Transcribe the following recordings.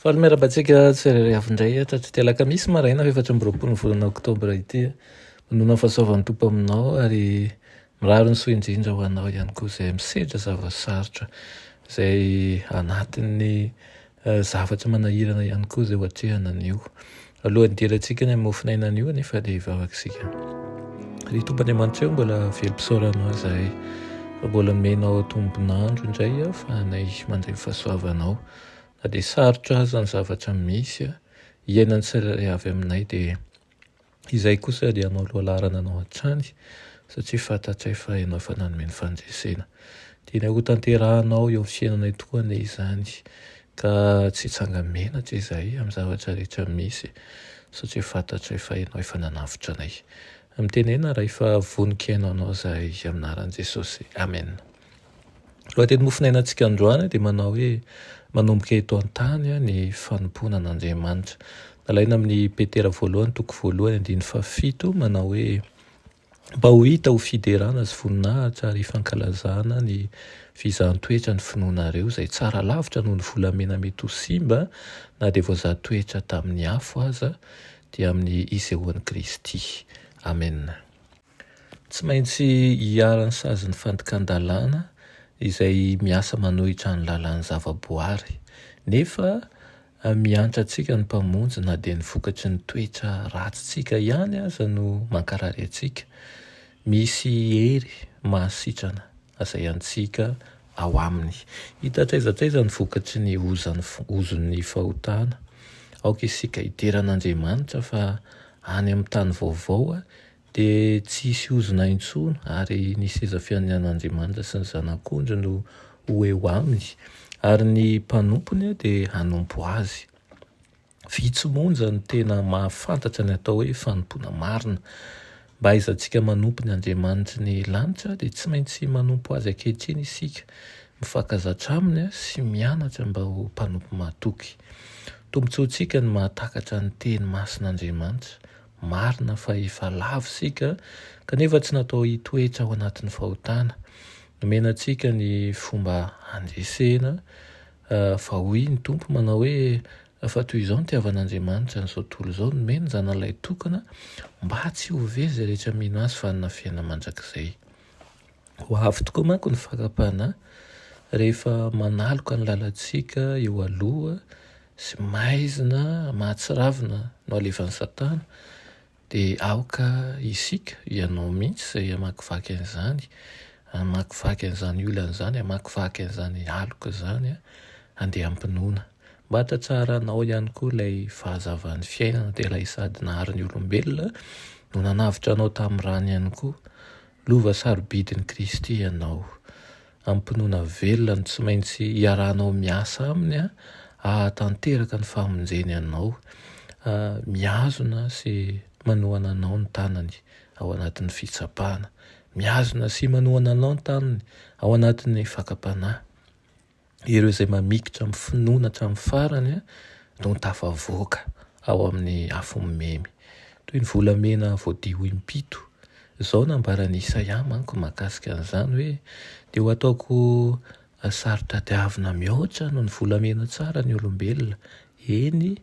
Faly miarahaba antsika tsirairay avy indray eto aty Alakamisy maraina efatra amby roapolo ny volana oktobra ity. Manoana ny fahasoavan'ny Tompo aminao ary mirary ny soa indrindra ho anao ihany koa izay misedra zava-sarotra, izay anatin'ny zavatra manahirana ihany koa izay ho atrehana anio. Alohan'ny hidirantsika ny mofon'aina anio anefa dia hivavaka isika. Ry Tompo Andriamanitra, mbola velom-pisaorana aho izahay fa mbola menao tombon'andro indray aho fa anay mandray fahasoavanao. Na dia sarotra aza ny zavatra misy iainan'ny tsirairay avy aminay dia izahay kosa dia hanao loha laharana anao hatrany satria fantatray fa ianao efa nanome ny fandresena. Tianay hotanterahanao eo amin'ny fiainanay tokoa anie izany Ka tsy hitsanga menatra izahay amin'ny zavatra rehetra misy, satria fantatray fa Ianao efa nanavotra anay. Mitenena Ray fa vonon-kena Anao izahay, amin'ny anaran'i Jesosy. Amen. Lohateny mofonainantsika androany dia manao hoe, Manomboka eto an-tany ny fanompoana an'Andriamanitra. Nalaina amin'ny Petera voalohany toko voalohany andininy fahafito manao hoe, mba ho hita ho fiderana sy voninahitra ary fankalazana ny fizahan-toetra ny finoanareo izay tsara lavitra noho ny volamena mety ho simba na dia voazaha toetra tamin'ny afo aza dia amin'ny isehoan'i Kristy. Amena. Tsy maintsy hiharan'ny sazin'ny fandikan-dalàna izay miasa manohitra ny lalàn'ny zavaboary, nefa Mihantra antsika ny Mpamonjy na dia ny vokatry ny toetra ratsintsika ihany aza no mankarary antsika. Misy hery mahasitrana izay antsika ao Aminy. Hita hatraiza hatraiza ny vokatry ny ozon'ny fahotana. Aoka isika hidera an'Andriamanitra fa any amin'ny tany vaovao Dia tsy hisy ozona intsony, ary ny seza fianian'Andriamanitra sy ny Zanak'ondry no ho eo aminy, ary ny mpanompony dia hanompo azy. Vitsy monja no tena mahafantatra ny atao hoe fanompoana marina. Mba hahaizantsika manompo ny Andriamanitry ny lanitra, dia tsy maintsy manompo azy ankehitriny isika, mifankazatra aminy sy mianatra mba ho mpanompo mahatoky. Tombontsoantsika ny mahatakatra ny teny masin'Andriamanitra, Marina fa efa lavo isika, kanefa tsy natao hitoetra ao anatin'ny fahotana. Nomena antsika ny fomba handresena, fa hoy ny Tompo, manao hoe, Fa toy izao nitiavan'Andriamanitra an'izao tontolo izao, nomeny ny Zanalay tokana, mba tsy ho very izay rehetra mino Azy fanina fiainana mandrakizay. Ho avy tokoa manko ny fakam-panahy rehefa manaloka ny lalantsika eo aloha sy maizina mahatsiravina no alefan'i Satana, dia aoka isika, ianao mihitsy izay hamakivaky an'izany, hamakivaky an'izany olana izany, hamakivaky an'izany aloka izany, handeha am-pinoana. Mba hahatsaranao ihany koa ilay fahazavan'ny fiainana, dia ilay sady nahary ny olombelona no nanavotra anao tamin'ny rany ihany koa, Lova sarobidin'i Kristy ianao. Amim-pinoana velona no tsy maintsy iarahanao miasa aminy hahatanteraka ny famonjeny anao, mihazona sy manohana anao ny tanany ao anatin'ny fitsapana, mihazona sy manohana anao ny tanany ao anatin'ny fakam-panahy. ireo izay mamikitra amin'ny finoana hatramin'ny farany no tafavoaka ao amin'ny afo mimemy, toy ny volamena voadio impito. Izao nambaran'i Isaia manko mahakasika an'izany hoe, Dia ho ataoko saro-tadiavina mihoatra noho ny volamena tsara ny olombelona, eny,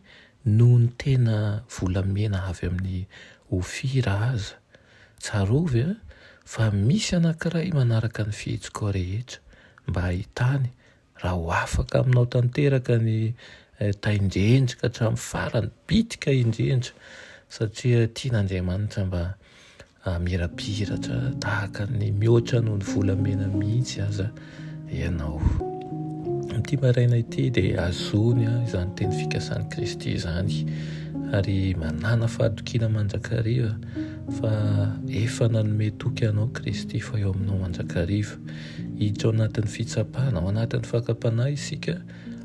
noho ny tena volamena avy amin'i Ofira aza. Tsarovy an, fa misy anankiray manaraka ny fihetsiko rehetra, mba hahitany raha ho afaka aminao tanteraka ny Tain-dRendry ka hatramin'ny farany, bitika indrindra, satria tian'Andriamanitra mba hamirapiratra tahaka ny mihoatra noho ny volamena mihitsy aza. ianao. Amin'ity maraina ity dia azony izany teny fikasan'i Kristy izany ary manana fahatokiana mandrakariva fa efa nanome toky anao Kristy fa eo aminao mandrakariva. Hiditra ao anatin'ny fitsapana, ao anatin'ny fakam-panahy isika,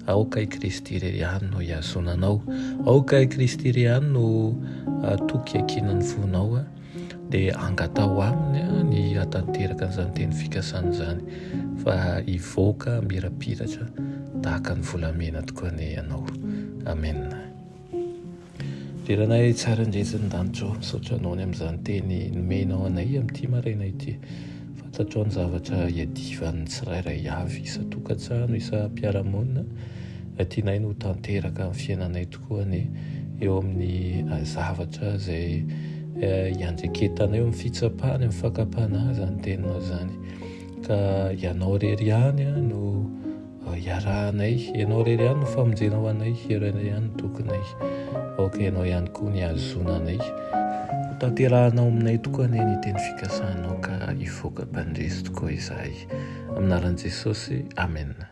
aoka i Kristy irery ihany no hihazona anao, aoka i Kristy irery ihany no hatoky ankinan'ny fonao. dia angataho aminy ny hatanteraka an'izany teny fikasana izany fa hivoaka mirapiratra tahaka ny volamena tokoa ny ianao. Amen. Diranay tsara indretsy ny danitro, misaotra anao ny amin'izany teny nomenao anay amin'ity maraina ity. Fantatrao ny zavatra iadivan'ny tsirairay avy, isa-tokantrano, isa-piarahamonina, raha tianay no tanteraka amin'ny fiainanay tokoa. koa ny eo amin'ny zavatra izay iandreketanao eo amin'ny fitsapana, eo fakam-panahy izany teninao izany. Ka ianao irery ihany no iarahanay, ianao irery ihany no famonjenao anay, ianao irery ihany no tokinay, aoka ianao ihany koa ny hahazoana anay. Ho tanterahanao aminay tokoa anie ny teny fikasanao ka hivoaka mpandresy tokoa izahay. Amin'ny anaran'i Jesosy, amena.